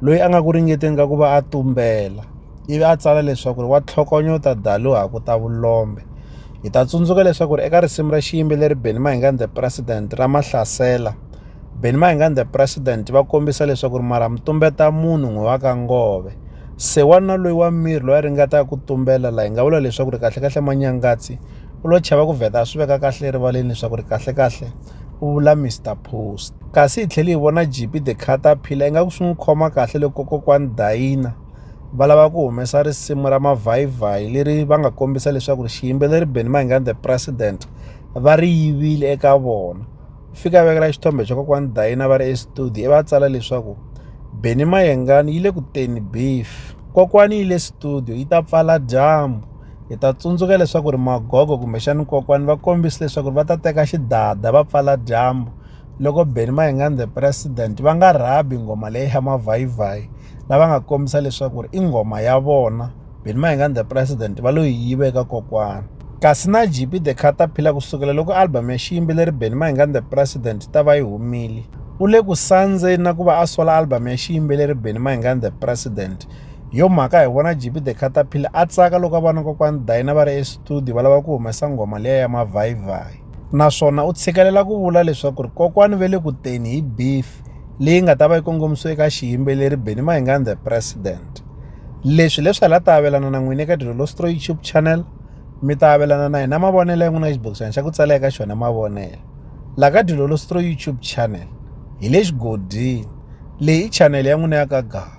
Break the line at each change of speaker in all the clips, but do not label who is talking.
loyi a nga ku ringeteni ka ku va a tumbela ivi a tsala leswaku ri wa tlhokonyota dalu ha ku ta vulombe hi ta tsundzuka leswaku ri eka risimu ra xiyimbeleri beni mahingan the president ra mahlasela beni mahingan the president va kombisa leswaku ri mara mutumbeta munhu n'wi wa ka ngove se wanuna loyi wa miri loyi a ringetaka ku tumbela la hi nga vula leswaku ri kahlekahle manyangatsi u lo chava ku vheta a swi veka kahle erivaleni leswaku ri kahlekahle ku vula Mister Post. Kasi hi tlhele hi vona Jipi the Caterpillar ingaku swi n'wi khoma kahle loko kokwani Dayina va lava ku humesa risimu ra mavhayivhayi leri va nga kombisa leswaku ri xiyimbeleri Benny Mayengani the President va ri yivile eka vona. Fika a vekela xithombe xa kokwani Dayina va ri estudio ivi a tsala leswaku Benny Mayengani yi le ku teni beef. Kokwani yi le studio yi ta pfala dyambu. hi ta tsundzuka leswaku ri magogo kumbexani kokwani va kombise leswaku ri va ta teka xidada va pfala dyambu loko beni mayingani the president va nga rhabi nghoma leyi ya mavhayivhayi lava nga kombisa leswaku ri i nghoma ya vona beni mayingani the president va lo yi yive eka kokwani kasi na gp the caterpillar kusukela loko album ya xiyimbeleri beni mayingani the president ta va yi humile u le ku sandzeni na ku va a sola album ya xiyimbeleri beni mayingani the president hi yo mhaka hi vona jp the caterpillar a tsaka loko a vona kokwani dayina va ri estudio va lava ku humesa nghoma leya ya mavhayivhayi naswona u tshikelela ku vula leswaku ri kokwani ve le ku teni hi beef leyi nga ta va yi kongomisiwe eka xiyimbeleri beni mahingani the president leswi leswi hala ta avelana na n'wini eka dilolostro youtube channel mi ta avelana na hina mavonelo ya n'wina xibokisana xa ku tsala eka xona mavonelo la ka dilolostro youtube channel hi le xigodini leyi i chanele ya n'wina ya ka gava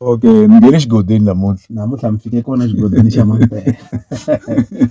Okay ni nghene xigodini namuntlha. Namuntlha mi fike kona xigodini xa Mampela.